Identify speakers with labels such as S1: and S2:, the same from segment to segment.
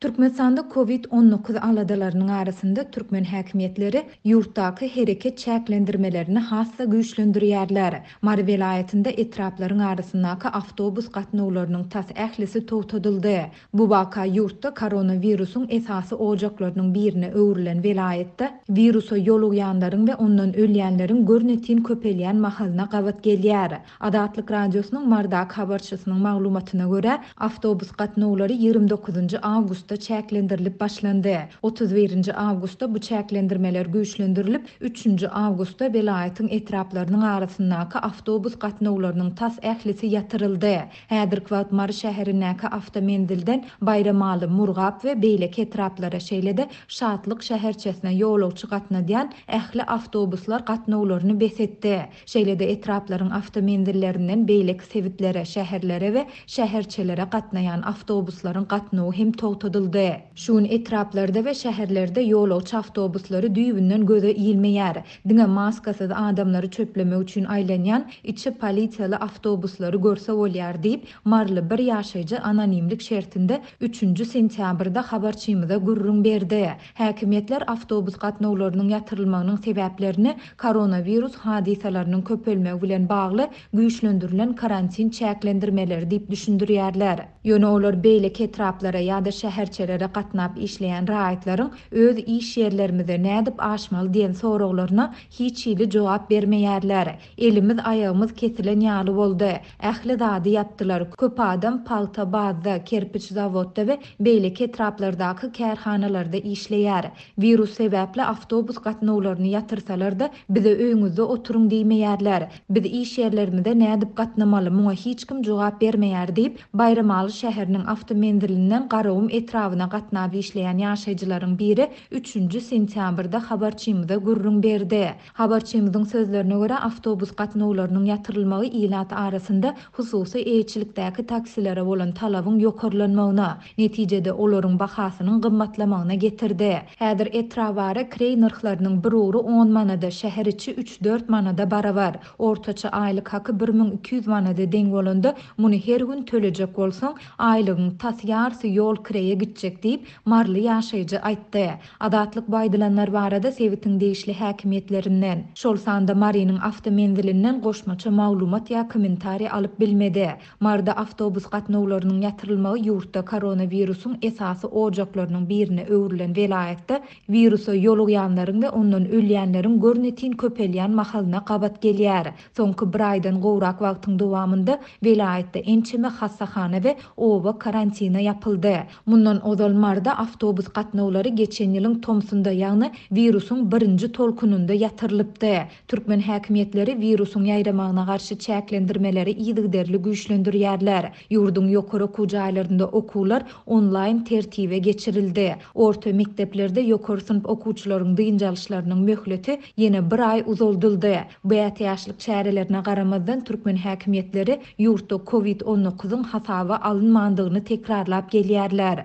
S1: Türkmenistanda Covid on dokuz aladalarynyň arasynda türkmen häkimiýetleri ýurtdaky hereket çäklendirmelerini has-da güýçlendirýärler. Mary welaýatynda etraplaryň arasyndaky awtobus gatnawlarynyň tas ählisi togtadyldy. Bu waka ýurtda koronawirusyň esasy ojaklarynyň birine öwrülen welaýatda wirusa ýolugýanlaryň we ondan ölýänleriň görnetin köpelýän mahalyna gabat gelýär. Azatlyk Radiosynyň Mardak habarçysynyň maglumatyna görä, awtobus gatnawlary ýigrimi dokuzynjy awgustda çäklendirilip başlandy. Otuz birinji awgustda bu çäklendirmeler güýçlendirilip, üçünji awgustda welaýatyň etraplarynyň arasyndaky awtobus gatnawlarynyň tas ählisi ýatyryldy. Häzirki wagt Mary şäherindäki awtomenzilden Baýramaly, Murgap we beýleki etraplara, şeýle-de Şatlyk şäherçesine ýolagçy gatnadýan ähli awtobuslar gatnawlaryny bes etdi. Şeýle-de etraplaryň awtomenzillerinden beýleki sebitlere, şäherlere we şäherçelere gatnaýan awtobuslaryň gatnawy hem togtadyldy. Şu gün etraplarda we şäherlerde ýolagçy awtobuslary düýbünden göze ilmeýär. Diňe maskasyz adamlary çöplemek üçin aýlanýan içi polisiýaly awtobuslary görse bolýar diýip, maryly bir ýaşaýjy anonimlik şertinde üçünji sentýabrda habarçymyza gürrüň berdi. Häkimiýetler awtobus gatnawlarynyň ýatyrylmagynyň sebäplerini koronawirus hadysalarynyň köpelmegi bilen bagly güýçlendirilen karantin çäklendirmeleri diýip düşündirýärler. Ýöne olar beýleki etraplara ýa-da şäherçelere gatnap işleýän raýatlaryň öz iş ýerlerimize nädip aşmaly diýen soraglaryna hiç hili jogap bermeýärler. Elimiz, aýagymyz kesilen ýaly boldy. Ähli zady ýapdylar. Köp adam pagta bazda, kerpiç zawodda we beýleki etraplardaky kärhanalarda işleýär. Wirus sebäpli awtobus gatnawlaryny ýatyrsalar-da, bize öýüňizde oturyň diýmeýärler. Biz iş ýerlerimize nädip gatnamaly, muňa hiç kim jogap bermeýär diýip, Baýramaly şäheriniň awtomenzilinden Garagum etrabyna gatnap işleýän ýaşaýjylaryň biri üçünji sentýabrda habarçymyza gürrüň berdi. Habarçymyzyň sözlerine görä, awtobus gatnawlarynyň ýatyrylmagy ilat arasynda hususy eýeçilikdäki taksilere bolan talabyň ýokarlanmagyna, netijede, olaryň bahasynyň gymmatlamagyna getirdi. Häzir etrabara kireý nyrhlarynyň bir ugry on manada, şäher içi üç-dört manada barabar. Ortaça aýlyk haky bir müň iki ýüz manada deň bolanda, muny her gün tölejek bolsaň, aýlygyň tas ýarsy ýol kireýe gitjek diýip, maryly ýaşaýjy aýtdy. Azatlyk bu aýdylanlar barada sebitiň degişli häkimiýetlerinden, şol sanda Marynyň awtomenzilinden goşmaça maglumat ýa kommentariý alyp bilmedi. Maryda awtobus gatnawlarynyň ýatyrylmagy ýurtda koronawirusyň esasy ojaklarynyň birine öwrülen welaýatda wirusa ýolugýanlaryň we ondan ölýänleriň görnetin köpelýän mahalyna gabat gelýär. Soňky bir aýdan gowrak wagtyň dowamynda welaýatda ençeme hassahana we oba karantina ýapyldy. Mundan ozal Marda awtobus gatnawlary geçen ýylyň tomsunda, ýagny wirusyň birinji tolkunynda ýatyrylypdy. Türkmen häkimiýetleri wirusyň ýaýramagyna garşy çäklendirmeleri yzygiderli güýçlendirýärler. Ýurduň ýokary okuw jaýlarynda okuwlar onlaýn tertibe geçirildi. Orta mekdeplerde ýokary synp okuwçylaryň dynç alyşlarynyň möhleti ýene bir aý uzaldyldy. Bu ätiýaçlyk çärelerine garamazdan, türkmen häkimiýetleri Ýurtda covid on dokuzyň hasaba alynmandygyny tekrarlap gelýärler.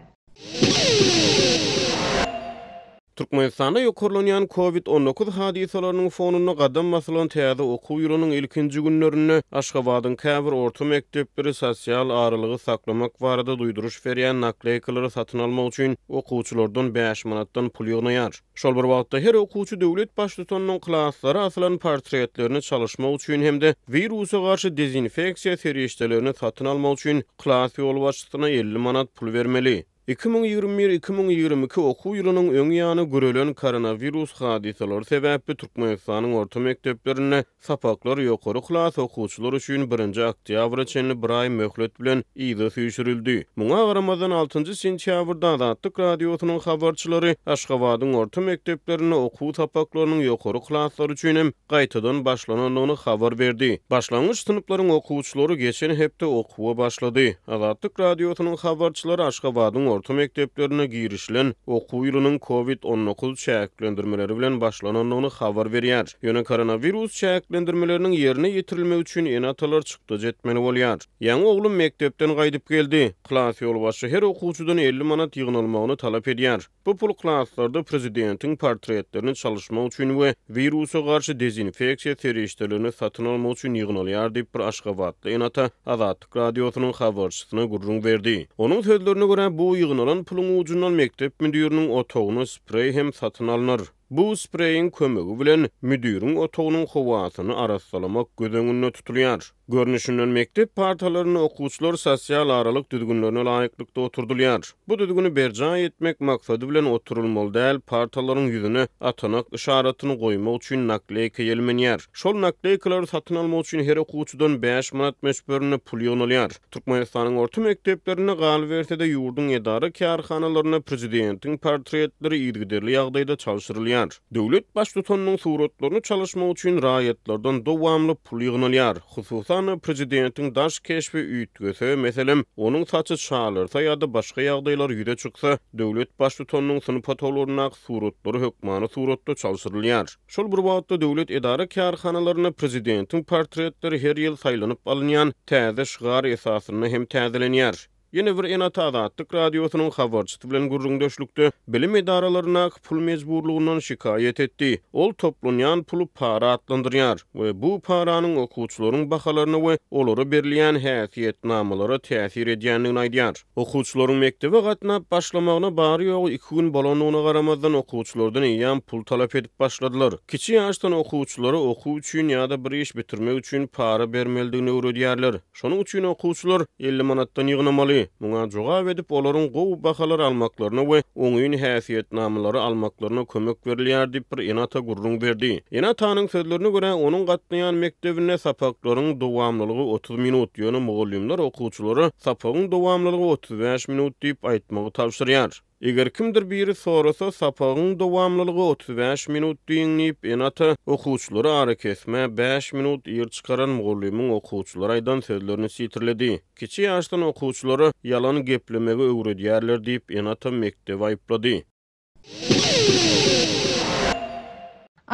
S2: Türkmenistanda ýokarlanýan covid on dokuz hadysalarynyň fonunda gadam basylan täze okuw ýylynyň ilkinji günlerinde Aşgabadyň käbir orta mekdepleri sosial aralygy saklamak barada duýduryş berýän nakleýkalary satyn almak üçin okuwçylardan bäş manatdan pul ýygnaýar. Şol bir wagtda, her okuwçy döwlet baştutanynyň klaslara asylan portretlerini çalyşmak üçin hem-de wirusa garşy dezinfeksiýa serişdelerini satyn almak üçin klas ýolbaşçysyna elli manat pul bermeli. Iki müň ýigrimi bir, iki müň ýigrimi iki okuw ýylynyň öň ýany görelen koronawirus hadysalary sebäpli Türkmenistanyň orta mekdeplerinde Sapaklar ýokary klas okuwçylary üçin birinji oktýabra çenli bir aý möhlet bilen yza süýşürildi. Muňa garamazdan, altynjy sentýabrda Azatlyk Radiosynyň habarçylary Aşgabadyň orta mekdeplerinde okuw sapaklarynyň ýokary klaslar üçin hem gaýtadan başlanandygyny habar berdi. Başlangyç synplaryň okuwçylary geçen hepde okuwa başlady. Azatlyk Radiosynyň habarçylary Aşgabadyň orta mekdeplerine girişilen okuw ýylynyň covid on dokuz çäklendirmeleri bilen başlanandygyny habar berýär. Ýöne koronawirus çäklendirmeleriniň ýerine ýetirilmegi üçin ene-atalar çykdajy etmeli bolýar. Ýaňy oglum mekdepden gaýdyp geldi. Klas ýolbaşçy her okuwçydan elli manat ýygnalmagyny talap edýär. Bu pul klaslarda prezidentiň portretlerini çalyşmak üçin we wirusa garşy dezinfeksiýa serişdelerini satyn almak üçin ýygnalýar diýip, bir aşgabatly ene-ata Azatlyk Radiosynyň habarçysyna gürrüň berdi. Onuň sözlerine görä, bu ýygnalan puluň ujundan mekdep müdiriniň otagyna spreý hem satyn alnar. Bu spreýiň kömegi bilen müdiriň otagynyň howasyny arassalamak göz öňünde tutulýar. Görnüşinden mekdep partalarynda okuwçylar sosial aralyk düzgünlerine laýyklykda oturdylýar. Bu düzgüni berjaý etmek maksady bilen oturylmaly däl partalaryň ýüzüne atanak yşaratyny goýmak üçin nakleýka ýelmenýär. Şol nakleýkalary satyn almak üçin her okuwçydan bäş manat möçberinde pul ýygnalýar. Türkmenistanyň orta mekdeplerinde, galyberse-de, ýurduň edara-kärhanalarynda prezidentiň portretleri yzygiderli ýagdaýda çalşyrylýar. Döwlet baştutanynyň suratlaryny çalyşmak üçin raýatlardan dowamly pul ýygnalýar. Hususan-da, prezidentiň daş keşbi üýtgese, meselem, onuň saçy çalyrsa ýa-da başga ýagdaýlar ýüze çyksa, döwlet baştutanynyň syn potoloryndaky suratlary hökmany suratda çalşyrylýar. Şol bir wagtda, döwlet edara-kärhanalarynda prezidentiň portretleri her ýyl saýlanyp alynýan täze şygar esasynda hem täzelenýär. Ýene bir ene-ata Azatlyk Radiosynyň habarçysy bilen gürrüňdeşlikde bilim edaralaryndaky pul mejburlygyndan şikaýat etdi. Ol toplanýan puly para atlandyrýar we bu paranyň okuwçylaryň bahalaryna we olara berilýän häsiýetnamalara täsir edýändigini aýdýar. Okuwçylaryň mekdebe gatnap başlamagyna bary-ýogy iki gün bolandygyna garamazdan, okuwçylardan eýýäm pul talap edip başladylar. Kiçi ýaşdan okuwçylara okuw üçin ýa-da bir iş bitirmek üçin para bermelidigini öwredýärler. Şonuň üçin okuwçylar elli manatdan ýygnamaly. Muňa jogap edip, olaryň gowy bahalary almaklaryna we oňyn häsiýetnamalary almaklaryna kömek berilýär diýip, bir ene-ata gürrüň berdi. Ene-atanyň sözlerine görä, onuň gatnaýan mekdebinde sapaklaryň dowamlylygy otuz minut, ýöne mugallymlar okuwçylara sapagyň dowamlylygy otuz bäş minut diýip aýtmagy tabşyrýar. Eger kimdir biri sorasa, sapagyň dowamlylygy otuz bäş minut diýiň diýip, ene-ata okuwçylary arakesmä bäş minut ir çykaran mugallymyň okuwçylara aýdan sözlerini sitirledi. Kiçi ýaşdan okuwçylara ýalan geplemegi öwredýärler diýip, ene-ata mekdebi aýyplady.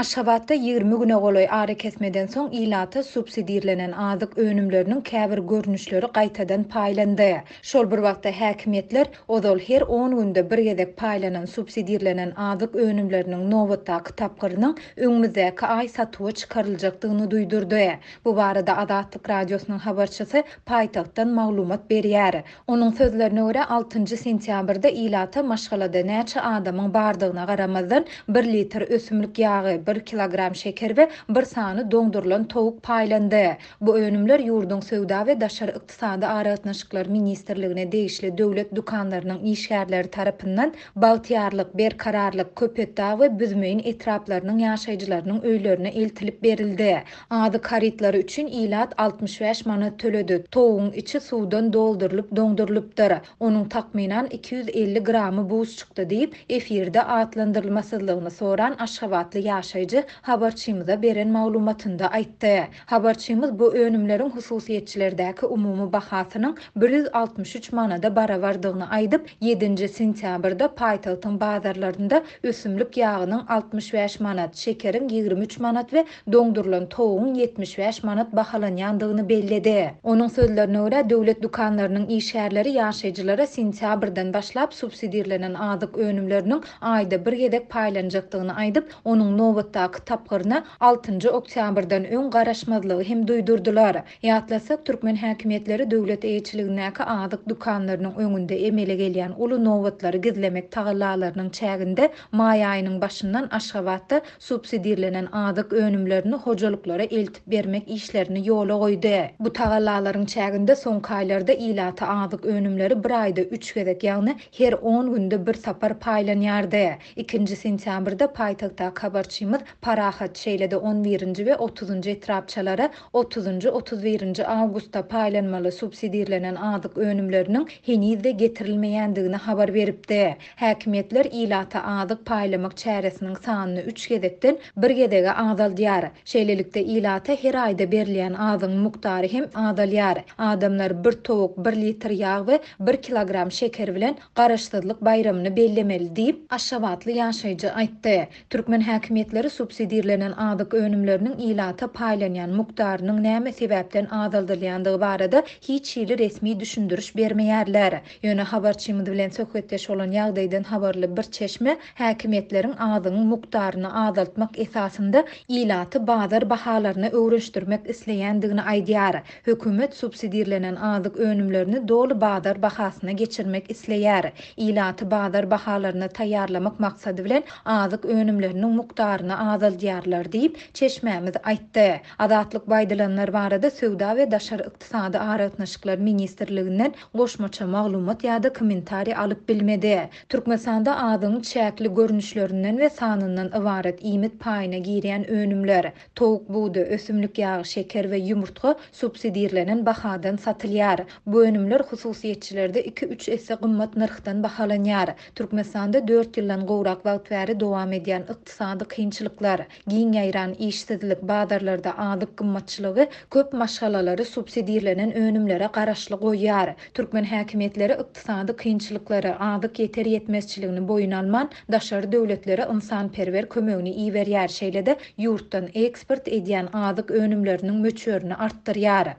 S1: Aşgabatda ýigrimi güne golaý arakesmeden soň ilata subsidirlenen azyk önümleriniň käbir görnüşleri gaýtadan paýlandy. Şol bir wagtda, häkimiýetler ozal her on günde bir gezek paýlanan subsidirlenen azyk önümleriniň nobatdaky tapgyrynyň öňümizdäki aý satuwa çykaryljakdygyny duýdurdy. Bu barada Azatlyk Radiosynyň habarçysy paýtagtdan maglumat berýär. Onuň sözlerine görä, altynjy sentýabrda ilata maşgalada näçe adamyň bardygyna garamazdan, bir litr ösümlik ýagy, bir kilogram şeker we bir sany doňdurylan towuk paýlandy. Bu önümler ýurduň Söwda we daşary ykdysady aragatnaşyklar ministrligine degişli döwlet dükanlarynyň işgärleri tarapyndan Bagtyýarlyk, Berkararlyk, Köpetdag we Büzmeýin etraplarynyň ýaşaýjylarynyň öýlerine eltilip berildi. Azyk harytlary üçin ilat altmyş bäş manat töledi. Towugyň içi suwdan doldurylyp doňdurylypdyr. Onuň takmynan iki ýüz elli gramy buz çykdy diýip, efirde atlandyrylmasyzlygyny soran aşgabatly ýaşaýjy habarçymyza beren maglumatynda aýtdy. Habarçymyz bu önümleriň hususyýetçilerdäki umumy bahasynyň bir ýüz altmyş üç manada barabardygyny aýdyp, ýedinji sentýabrda paýtagtyň bazarlarynda ösümlik ýagynyň altmyş bäş manat, şekeriň ýigrimi üç manat we doňdurylan towugyň ýetmiş bäş manat bahalanýandygyny belledi. Onuň sözlerine görä, döwlet dükanlarynyň işgärleri ýaşaýjylara sentýabrdan başlap subsidirlenen azyk önümleriniň aýda bir gezek paýlanjakdygyny aýdyp, onuň nobatdaky tapgyryna altynjy oktýabrdan öň garaşmazlygy hem duýdurdylar. Ýatlatsak, türkmen häkimiýetleri döwlet eýeçiligindäki azyk dükanlarynyň öňünde emele gelýän uly nobatlary gizlemek tagallalarynyň çäginde maý aýynyň başyndan Aşgabatda subsidirlenen azyk önümlerini hojalyklara eltip bermek işlerini ýola goýdy. Bu tagallalaryň çäginde soňky aýlarda ilata azyk önümleri bir aýda üç gezek, ýagny her on günde bir sapar paýlanýardy. Ikinji sentýabrda paýtagtdaky habarçymyz Parahat şeýle-de on birinji we otuzynjy etrapçalara otuzynjy, otuz birinji awgustda paýlanmaly subsidirlenen azyk önümleriniň heniz-de getirilmeýändigini habar beripdi. Häkimiýetler ilata azyk paýlamak çäresiniň sanyny üç gezekden bir gezege azaldýar. Şeýlelikde, ilata her aýda berilýän azygyň mukdary hem azalýar. Adamlar bir towuk, bir litr ýag we bir kilogram şeker bilen Garaşsyzlyk baýramyny bellemeli diýip, aşgabatly ýaşaýjy aýtdy. Türkmen häkimiýetleri subsidirlenen azyk önümleriniň ilata paýlanýan mukdarynyň näme sebäpden azaldylýandygy barada hiç hili resmi düşündiriş bermeýärler. Ýöne habarçymyz bilen söhbetdeş bolan ýagdaýdan habarly bir çeşme häkimiýetleriň azygyň mukdaryny azaltmak esasynda ilaty bazar bahalaryna öwrenşdirmek isleýändigini aýdýar. Hökümet subsidirlenen azyk önümlerini doly bazar bahasyna geçirmek isleýär. Ilaty bazar bahalaryna taýýarlamak maksady bilen azyk önümleriniň mukdaryny azaldýarlar diýip, çeşmämiz aýtdy. Azatlyk bu aýdylanlar barada Söwda we daşary ykdysady aragatnaşyklar ministrliginden goşmaça maglumat ýa-da kommentariý alyp bilmedi. Türkmenistanda azygyň çäkli görnüşlerinden we sanyndan ybarat iýmit paýyna girýän önümler, towuk budy, ösümlik ýagy, şeker we ýumurtga subsidirlenen bahadan satylýar. Bu önümler hususyýetçilerde iki-üç esse gymmat nyrhdan bahalanýar. Türkmenistanda dört ýyldan gowrak wagt bäri dowam edýän ykdysady kynçylyklar, Giň ýaýran işsizlik, bazarlarda azyk gymmatçylygy köp maşgalalary subsidirlenen önümlere garaşly goýýar. Türkmen häkimiýetleri ykdysady kynçylyklary, azyk ýeter-ýetmezçiligini boýun alman, daşary döwletlere ynsanperwer kömegini iberýär, şeýle-de ýurtdan eksport edýän azyk önümleriniň möçberini artdyrýar.